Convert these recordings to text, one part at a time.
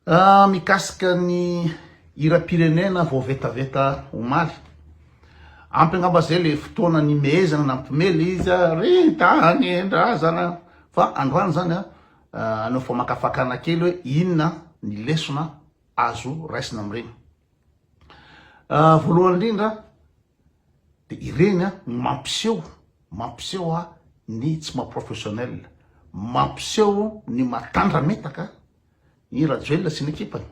Raha mikasika ny hiram-pirenena voavetaveta omaly, ampy angamba zay le fotoana nimehezana nampimely izy a, ry tanindrazana fa androany zany a hanao famakafakana kely hoe inona ny lesona azo raisina amin'ireny. Voalohany indrindra de ireny a no mampiseho mampiseho a ny tsy maha professionnel, mampiseho ny maha tandrametaka i Rajoelina sy ny ekipany.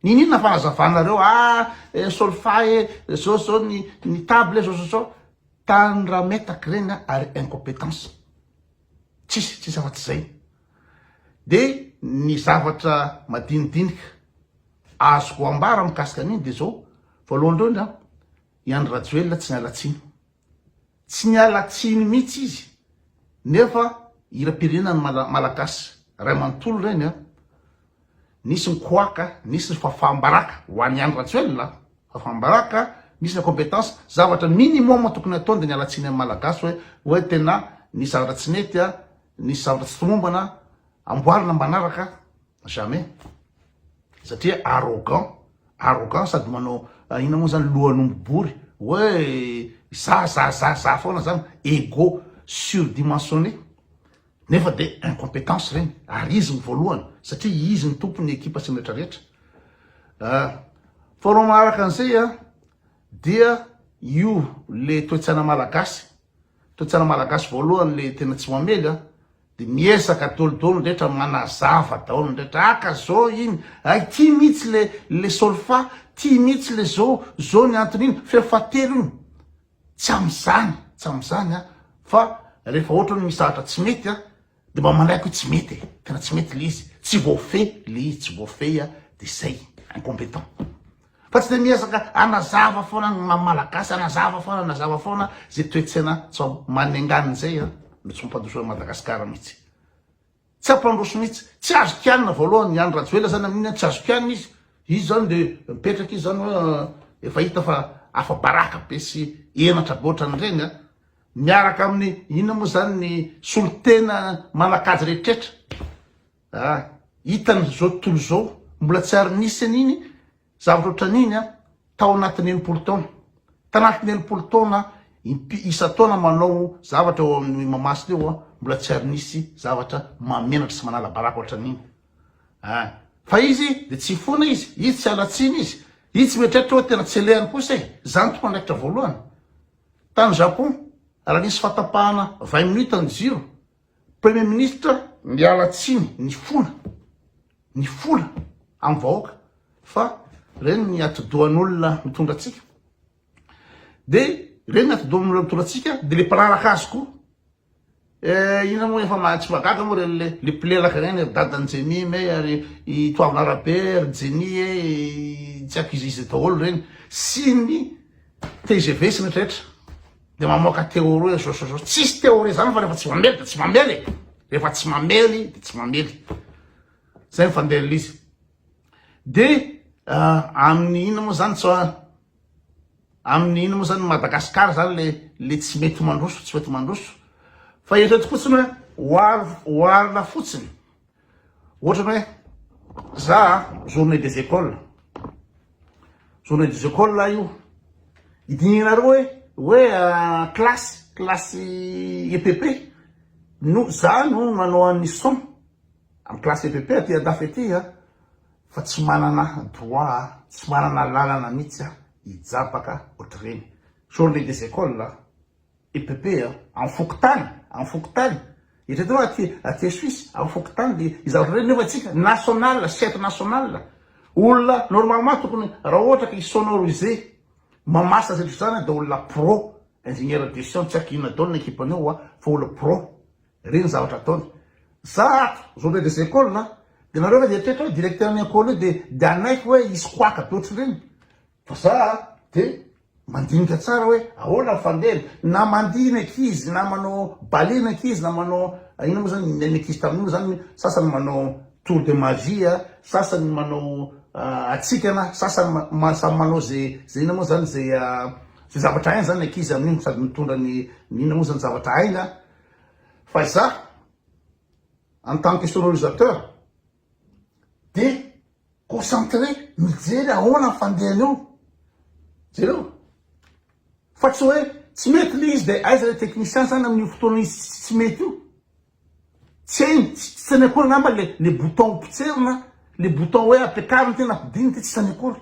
Niniana fa hazavanareo ah eh, solfa eh, zao zao ny, ny table zao zao zao. Tany raha metaky reny ary incompétence. Tsisy, tsisy afa-tsy zay. De ny zavatra madinidinika azoko ambara mikasika an'iny de zao, voalohany indrindra, i Andry Rajoelina tsy niala tsiny. Tsy niala tsiny mihitsy izy nefa hiram-pirenena ny Malagasy ray manontolo ireny an! Nisy ny koaka, nisy ny fafam-baraka ho an'i Andry Rajoelina an! Fafam-baraka, misy ny incompetence, zavatra minimum tokony hatao dia niala tsiny amin'ny Malagasy hoe hoe tena nisy zavatra tsy nety an! Nisy zavatra tsy tomombana an! Amboarina manaraka an! Jamais! satria arrogant arrogant sady manao inona moa zany lohan'omby bory hoe za za za za foana zany ego surdimensionné nefa de incompétence regny ary izy ny voalohany satria izy ny tompo ny ekipa sy ny retraretra ah, faharoa manaraka an'izay a dia io le toetsaina malagasy Toetsana malagasy voalohany le tena tsy mamely a! de miezaka dolo dolo ny rehetra manazava daholo ny rehetra aka zao iny ay ty mitsy le le solfa ty mitsy le zao zao ny antony iny feo fahatelo iny tsy amzany tsy amzany a fa rehefa ohatran misahatra tsy mety a! De mba manaiky hoe tsy mety e, tena tsy mety le izy, tsy voafehy le izy, tsy voafehy a, de zay, incompétent. Fa tsy de miezaka anazava foana ny maha malagasy, anazava foana, anazava foana ze toe-tsaina tsy ao, manengana zay a, no tsy mampandroso an'i Madagasikara mihitsy, tsy hampandroso mihitsy, tsy azo kianina voalohany i Andry Rajoelina zany amin'iny a, tsy azo kianina izy, izy zany de mipetraka izy zany hoe efa hita fa afa-baraka be sy henatra be otran'ireny a, Miaraka amin'ny inona moa izany ny solontena manan-kajy rehetrretra? Ah, hitany izao tontolo izao, mbola tsy ary nisy an'iny zavatra ohatran'iny ah, tao anatin'ny enimpolo taona. Tanatin'ny enimpolo taona, impi- isan-taona manao zavatra eo amin'ny Mahamasina eo ah, mbola tsy ary nisy zavatra mahamenatra sy manala baraka ohatran'iny. Ah, fa izy dia tsy hifona izy, izy tsy halatsiny izy, izy tsy mieritreritra hoe tena tsy alehany kosa e. Izany tokoandraikitra voalohany. Tany Japon, raha nisy fatapahana vingt minutes ny jiro, Premier Ministre niala tsiny nifona, nifola amin'ny vahoaka fa ireny ny atidohan'olona mitondra antsika, dia ireny ny atidohan'olona mitondra antsika, dia ilay mpanaraka azy koa. Eh inona moa efa maha tsy mahagaga moa reny le le mpilelaka reny ry dadan'i Jenny me ary i Toavina Rabe ry Jenny e tsy accusise daholo reny sy ny tgv sy ny rehetra de mamoaka théorie zao sy zao tsisy théorie zany fa rehefa tsy mamely de tsy mamely e rehefa tsy mamely de tsy mamely zay ny fandehan'ilay izy de amin'ny inona moa zany tsy Aminy ino moa zany Madagascar zany le le tsy mety mandroso tsy mety mandroso fa eritrereto fotsiny hoe oar oarina fotsiny ohatrany hoe za journée des écoles journée des écoles la io idinihanareo hoe hoe classe classe EPP no za no manao an'ny son Am classe EPP aty andafy aty a fa tsy manana droit a, tsy manana lalana mitsy a hijabaka otrreny. Journee des écoles a, EPP a, am fokontany, am fokontany, eritreto oa aty aty Suisse am fokontany de iza otrreny nefa tsika national, chef national, olona normalement tokony ra ohatra ka hi-sonoriser mamarsa zay otr'izany de olona pro, ingénieur de son tsy aiko inona daolo ny ekipan'io oa fa olona pro Reny zavatra ataony. Za ato zone des écoles a de nareo ve dia toetra hoe directeur ny ecole io de de hanaiky hoe hisy koaka be ohatrin'ireny fa za de mandinika tsara hoe ahoana ny fandehany na mandihy ny ankizy na manao ballet ny ankizy na manao inona moa zany ny ankizy tamin'iny moa zany sasany manao tour de magie a sasany manao hatsikana sasany samy manao ze ze inona moa zany ze ze zavatra hainy zany ny ankizy amin'iny sady mitondra ny inona moa zany zavatra hainy a Fa izaho en tant que sonorisateur dia concentré mijery ahoana ny fandehany eo. Jereo fa tsy hoe tsy mety ilay izy dia aiza ilay technicien izany amin'io fotoana izy tsy mety io. Tsy hainy, tsy hainy akory angamba ilay bouton potserina, ilay bouton hoe ampiakarina ity na ampidirina ity tsy hainy akory.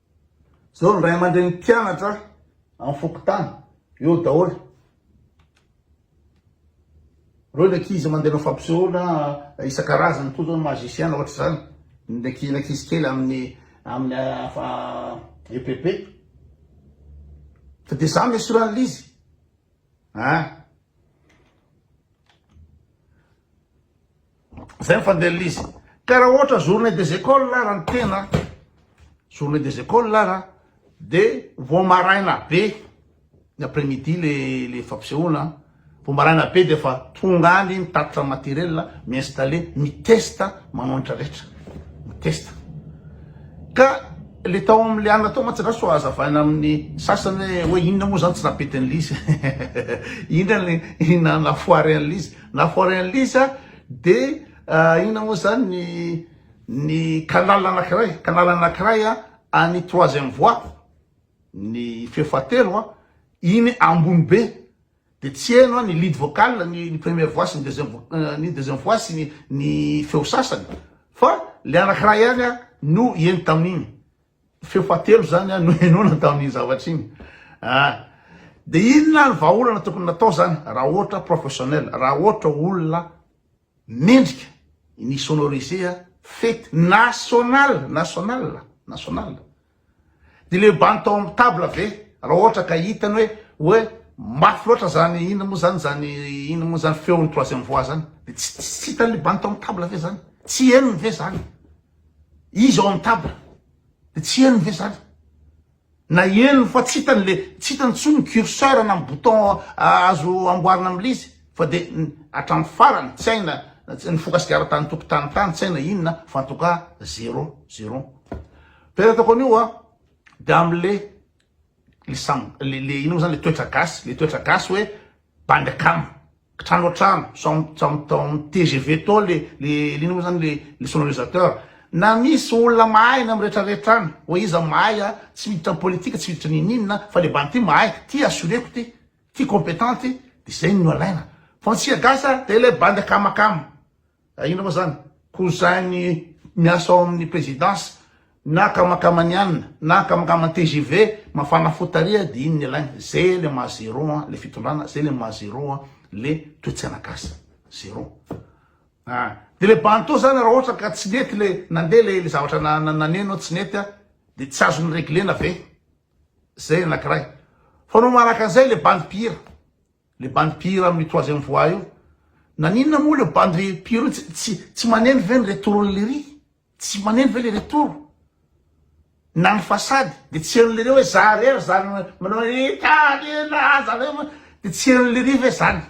Zao ny ray aman-dreny mpianatra amin'ny fokontany, eo daholo. Reo ny ankizy mandeha manao fampisehoana isan-karazany koa zao ny magicien ohatra izany. Ny ankizy ankizy kely amin'ny amin'ny ah, EPP. Fa dia izany no esoran'ilay izy. Ah. Zay ny fandehan'ilay izy. Ka raha ohatra journée des écoles ara ny tena, journée des écoles ara, de vao maraina be, ny après midi le le fampisehoana, vao maraina be de efa tonga any mitatitra matériel, mi-installer, mi-test manao an'itra rehetra, mi-test. Ka le tao amin'ny liana tao mantsy angaha sao hazavaina amin'ny sasany hoe hoe inona moa zany tsy napetin'ilay izy. Inona ny inona ny nafoary an'ilay izy. Na forain lisa de inona moa zany ny ny canal anakiray canal anakiray a any troisième voie ny feo fahatelo a iny ambony be de tsy heno a ny lead vocal ny ny première voix sy ny deuxième voix ny deuxième voix sy ny ny feo sasany fa le anakiray ihany a no heno tamin'iny Feo fahatelo zany no henoina tamin'iny zavatra iny ah. De inona ny vahaolana tokony natao zany raha ohatra professionnel, raha ohatra olona mendrika ny sonoriser fety national, national, national. De le bandy tao amin'ny table ve raha ohatra ka hitany hoe hoe mafy loatra zany inona moa zany zany inona moa zany feon'ny troisième voix zany de tsy tsy hitan'le bandy tao amin'ny table ve zany, tsy henony ve zany. Izy ao amin'ny table dia tsy henony ve izany? Na henony fa tsy hitany le tsy hitany intsony ny curseur na ny bouton azo amboarina amin'ilay izy fa dia hatramin'ny farany tsy hay na nifoka sigara tany an-tokotany tany tsy hay na inona fa en tout cas zéro zéro. Tena ataoko an'io a dia amin'ilay le sam le le ino moa izany le toetra gasy le toetra gasy hoe bandy akama Trano an-trano, amin'ny tgv tao le inona moa zany le sonorisateur. Na misy olona mahay na miretraretra any, oe iza mahay a, tsy miditra amin'ny politika, tsy miditra ninininona fa le bandy ty mahay, ty assureko ty, ty competent ty, de zay no alaina, fa ny tsika gasy a de le bandy akamakama. Ka inona moa zany? Cousin ny miasa ao amin'ny présidence na akamankamanianina na akamankaman'ny tgv mafana fo tariha dia iny ny alaina. Zay le maha zéro an le fitondrana, zay le maha zéro an le toetsaina gasy. Zéro. A! Dia le Bantô zany raha ohatra ka tsy nety le nandeha le le zavatra naneno tsy nety an dia tsy azo ni-reglena ve? Zay ny anakiray. Fa no manaraka an'izay le bandy mpihira. Le bandy mpihira amin'ny troisième voix io naninona moa le bandy mpihira io tsy tsy maneno ve ny retour le ry tsy maneno ve le retour na ny façade de tsy heno le ry hoe za re za manao hoe tany na za ve de tsy heno le ry ve zany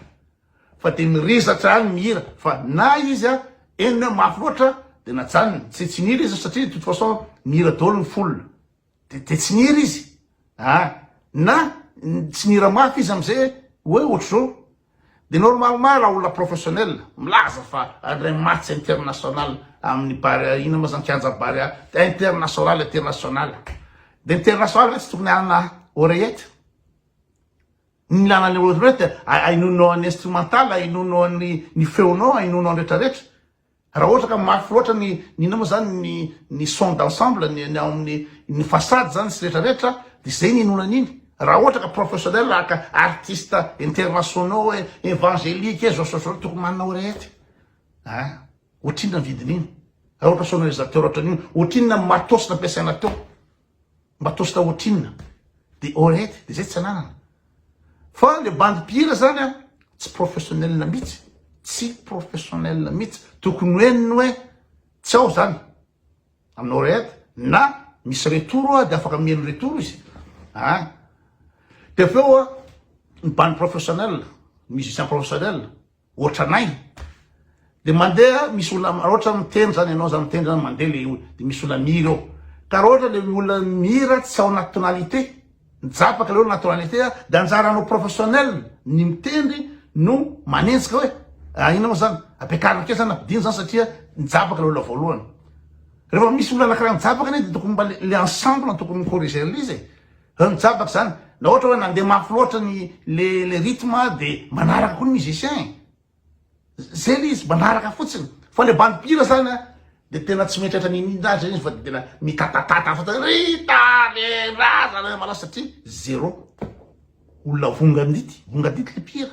fa de mirizatra any mihira fa na izy a henony mafy loatra de najanony tsy tsy nihira izy satria de toute façon mihira daholo ny foule de de tsy niry izy a ah, na tsy nira mafy izy amizay hoe ohatr'izao de normalement raha olona professionnel milaza fa adray match international amin'ny barea ina ma zany kianja barea international international de international ve tsy tokony anana oreillette ny ilana ny oreillette ainono an'ny instrumental ainono an'ny ny feonao ainono an'retraretra Raha ohatra ka mafy loatra ny ny inona moa zany ny ny son d'ensemble ny ny ao amin'ny ny façade zany sy retraretra de zay ny inoana an'iny. Raha ohatra ka professionnel raha ka artiste internationaux hoe evangelique hoe zao sy zao tokony manana oreette a! Ohatrinona ny vidin'iny? Raha ohatra sonorisateur ohatran'io ohatrinona ny matos nampiasaina teo? Mba tosta otrinona? Dia alright, dia zay tsy ananana. Fa le bandy mpihira zany an, tsy professionnel mitsy, tsy professionnel mitsy. Tokony hoe ny hoe tsy ao zany amin'ny oread na misy retour a dia afaka miely retour izy an. Dia avy eo ny bandy professionnel, ny musicien professionnel, Otranay de mandeha misy olona raha ohatra miteny zany ianao zany miteny zany mandeha le olona de misy olona mihira eo ka raha ohatra le olona mihira tsy ao anaty tonalité mijapaka le olona anaty tonalité de anjaranao professionnel ny mitendry no manenjika hoe ah inona moa zany ampiakarina akeo zany ampidino zany satria mijapaka le olona voalohany rehefa misy olona anankiray mijapaka anie de tokony mba le ensemble no tokony mi-corriger an'le izy e Zany mijabaka zany na ohatra hoe nandeha mafy loatra ny le le rythme de manaraka koa ny musicien e zay le izy manaraka fotsiny fa le bandy mpihira zany a de tena tsy mieritreritra ny inona azy zany izy fa de tena mitatatata fotsiny ry tanindrazana hoe manao satria zéro olona vongadity vongadity le mpihira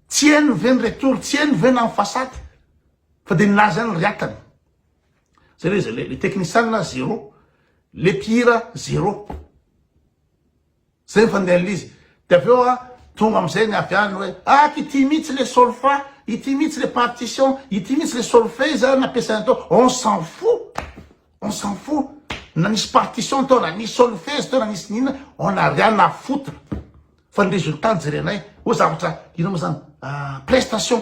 tsy hainy ve ny retour tsy hainy ve na ny façade fa de nilaza ihany ry atany Zay le zay le teknisianina zéro, le mpihira zéro. Zay ny fandinihana ilay izy. Dia avy eo tonga amin'izay ny avy any hoe ak ity mihitsy le solfa, ity mihitsy le partition, ity mihitsy le solfeja nampiasaina tao. On s'en fout, on s'en fout na nisy partition tao, na nisy solfezy tao, na nisy n'inona, on n'a rien à foutre fa ny résultat no jerenay. Hoe zavatra inona moa zany? prestation.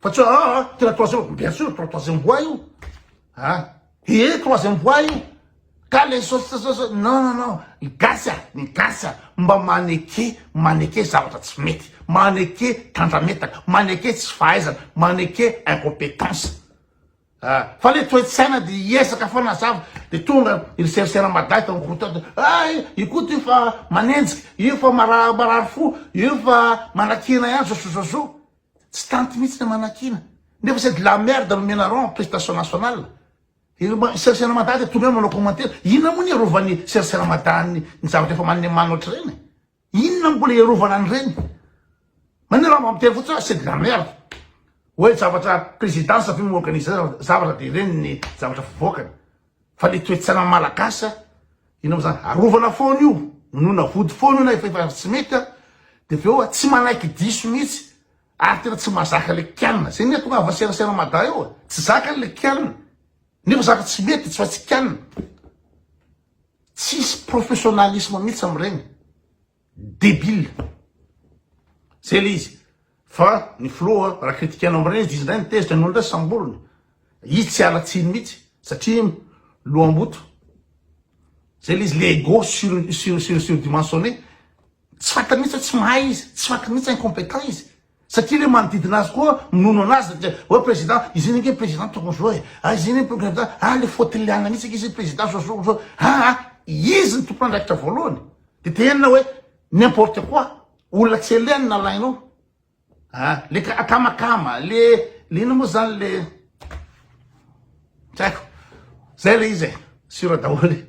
Fa tsy hoe ah, ah, tena troisième, bien sûr, tro- troisième voie io. Ah, eh, troisième voie io. Ka le so- so- so- so- non, non, non, ny gasy a, ny gasy a, mba maneke, maneke zavatra tsy mety, maneke tandrametaka, maneke tsy fahaizana, maneke incompétence. Ah, fa le toe-tsaina de hiezaka foana zava de tonga ry serisera madahy tao route ato ah i- io koa ty fa manenjika io fa mara- marary fo io fa manakina ihany zozozozo Tsy tanty mihitsy ny manakiana. Nefa c'est de la merde no menaront en prestation nationale. Ireo Sir Seramada dia tonga eo manao commentaire. Inona moa ny hiarovan'i Sir Seramada ny ny zavatra efa manemana ohatr'ireny e? Inona no mbola hiarovana an'ireny? Manina raha mba miteny fotsiny hoe c'est de la merde. Hoe zavatra présidence ve mi-organiser zavatra dia ireny ny zavatra fivoakany. Fa le toetsaina malagasy a, ino mo zany, arovana foana io, inoana vody foana io na efa efa tsy mety a, de avy eo a tsy manaiky diso mihitsy, ary tena tsy mazaka le kianina, zay ny ahatonga ahy vaserasera mada eo a, tsy zakany le kianina, nefa zaka tsy mety tsy fa tsy kianina, tsisy professionnalisme mihitsy am'regny. Debile. Zay le izy. Fa ny filoha raha critiquenao am reny izy ndray ny tezitra nony ndray samboriny. Izy tsy ala tsiny mitsy satria lohamboto. Zay le izy le ego sur sur sur sur dimensionne. Tsy fantany mitsy hoe tsy mahay izy, tsy fantany mitsy incompetent izy. Satria le manodidina azy koa minono anazy satria oe president izay ange president tokony zao e ah izay ange president ah le faute liana mihitsy ange izay president zao zao zao ah ah izy ny tompon'andraikitra voalohany de tenenina hoe n'importe quoi olona tsy eleny nalainao ah le ka akamakama le le inona moa zany le tsy haiko zay le izy e sur daholo e